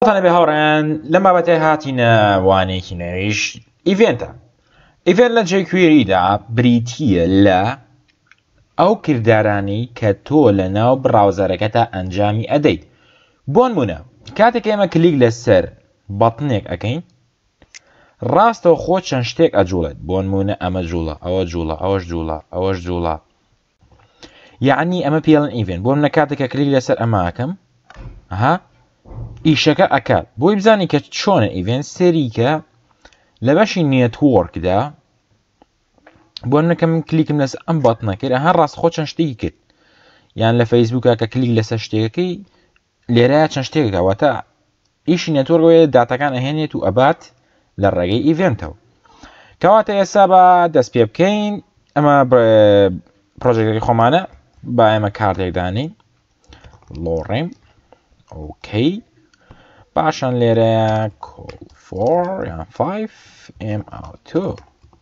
تانەبێ هاوڕیان لەم بابەتێ هاتینە وانێکی نوێش ئیڤێنتە ئیڤێن لە جێکوێریدا بریتە لە ئەو کردارانی کە تۆ لە ناو بڕاوزەرەکە تا ئەنجامی ئەدەیت بۆن بوونە کاتێک ئێمە کلیک لەسەر بەڵتنێک ئەەکەین ڕاستەوە خۆ چەند شتێک ئەجوڵێت بۆن مونە ئەمە جوڵە ئەوە جوڵە ئەوەش جوڵە ئەوەش جوڵە یعنی ئەمە پێڵن ئیڤێن بۆ منە کاتێکە کلیک لەسەر ئەماکەم ها ئیشەکە ئەکات بۆی بزانی کە چۆنە ئیڤێن سەریکە لە بەشی نێتوەرکدا بۆ منەکە من کلیکم لەس ئەم بەت نەکرد هەر ڕاست خۆ چەند شتێکی کرد یان لە فەیسبووکە کە کلیک لەسەر شتێکەکەی لێرە چەند شتێک داوەتە ئیشی نێتۆرگ وەیە داتەکان ئەهێنێت و ئەبات لە ڕێگەی ئیڤنتەوە کەواتە ئێستا بە دەست پێ بکەین ئەمە پرۆژێکی خۆمانە با ئێمە کارتێکدانی لۆڕێم ئۆکەی پاشان لێرە کۆفۆر یان 5 ئم ئاوتۆ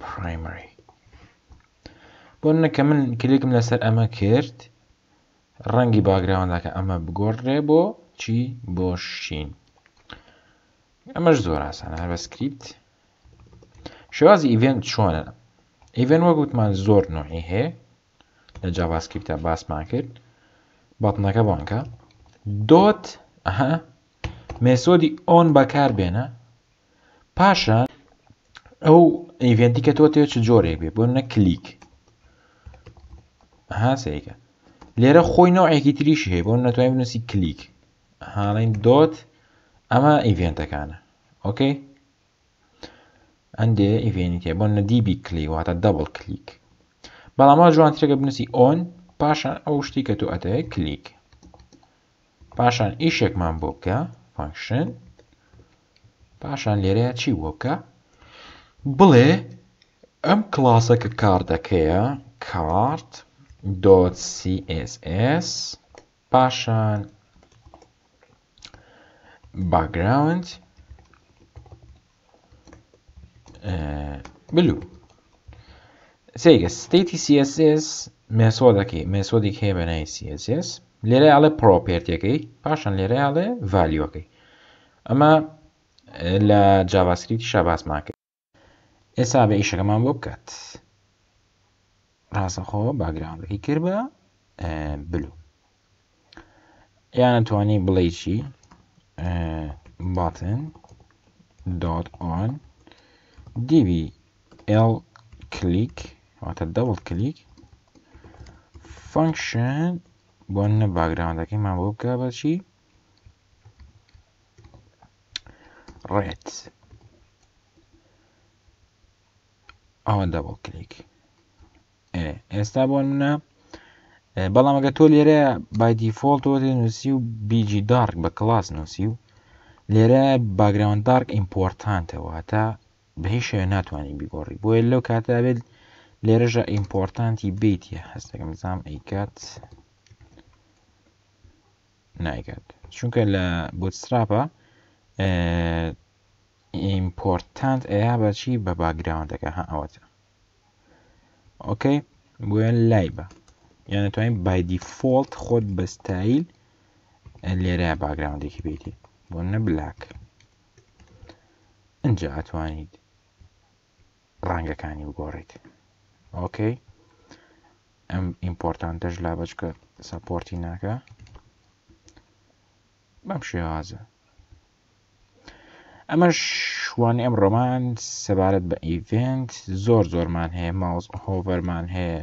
پرایمری بۆنە کە من کلێکم لەسەر ئەمە کرد ڕەنگی باگراوەندەکە ئەمە بگۆڕێ بۆ چی بۆ شین ئەمەش زۆر ئاسانە هەر بە سکریپت شێوازی ئیڤێنت چۆنە ئیڤێن وەک وتمان زۆر نوعی هەیە لە جاواسکریپتە باسمان کرد بەڵنەکە بانکە دۆت ئەها مێسۆدی ئۆن بەکار بێنە پاشان ئەو ئیڤێنتی کە تۆ تێ چ جۆرێک بێ بۆ نە کلیک هاسەیەکە لێرە خۆی نەوەیەکی تریش هەیە بۆ نەتوانین بنووسی کلیک هاڵین دۆت ئەمە ئیڤێنتەکانە ئۆکەی ئەندێ ئیڤێنی تێ بۆ نەدیبی کلی واتە دەبڵ کلیک بەڵاما جوانترێکە بنووسی ئۆن پاشان ئەو شتی کە تۆ ئەتەیە کلیک پاشان ئیشێکمان بۆ بکە فانکشن پاشان لێرەیە چی بووە بکە بڵێ ئەم کلاسە کە کاردەکەیە کارت دۆت CSS پاشان باگراوند بلو سێگە ستیتی CSS مێسۆدەکەی مێسۆدیک هەیە بەنای CSS لێرە ئاڵێ پرۆپێرتەکەی پاشان لێرە ئاڵێ ڤالیۆکەی ئەمە لە جاڤاسکریپتیشا باسمان کرد. ئێستا بە ئیشەکەمان بۆ بکات ڕاستەخۆ باگراوندەکەی کرد بە بلو یانە توانی بڵێ چی باتن دۆت ئۆن دیبی ئێڵ کلیک واتە دەوڵ کلیک فەنکشن بۆ نە باگراوندەکەیمان بۆ بکە بەچی ڕێت ئەوە دەبڵ کلیک ئێستا بۆ منە بەڵام ئەگە تۆ لێرە بایدی فۆڵتەوە نووسی و بیجی دارک بە کلاس نووسی و لێرە باگراوند دارک ئیمپۆرتانتەوە هەتا بە هیچ شوێ ناتوانانی بیگۆڕی بۆیە لەو کاتە بێت لێرەژە ئیمپۆرتانتی بیتە هەستەکەم زام ئەیکات نایکات چونکە لە بۆتستراپە ئیمپۆرتانت ئەیا بەچی بە باگراوندەکە ها ئەوەتە ئۆکەی بۆیان لای بە یانە توانین بایدی فۆلت خۆت بەستایل لێرە باگراوندێکی بێتی بۆ نە بلاک ئەجا ئەتوانیت ڕەنگەکانی بگۆڕیت ئۆکەی ئەم ئیمپۆرتانتەش لا بەچکە سەپۆرتی ناکە بەم شێوازە ئەمە شوان ئەم ڕۆمان سەبارەت بە ئیڤنت زۆر زۆرمان هەیە ماوس هۆڤەرمان هەیە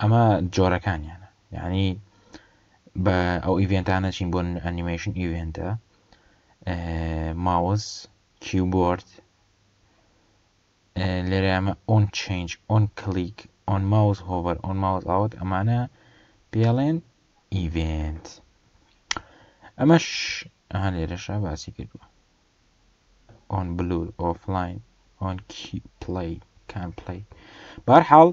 ئەمە جۆرەکانیانە یعنی بە ئەو ئیڤێنتانە چین بۆ ئەنیمەیشن ئیڤێنتە ماوس کیوبۆرد لێرە ئەمە ئۆن چنج ئۆن کلیک ئۆن ماوس هۆڤەر ئۆن ماوس ئاوت ئەمانە پێڵێن ئیڤێنت ئەمەش ئەها لێرەشە باسی کردووە ئۆن بلور ئۆفلاین ئۆن کی پلەی کان پلەی بارحاڵ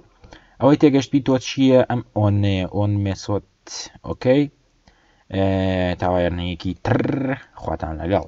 ئەوەی تێگەشتبی تۆ چییە ئەم ئۆنەیە ئۆن مێسۆت ئۆکەی تاوایەرنەیەکی تر خواتان لەگەڵ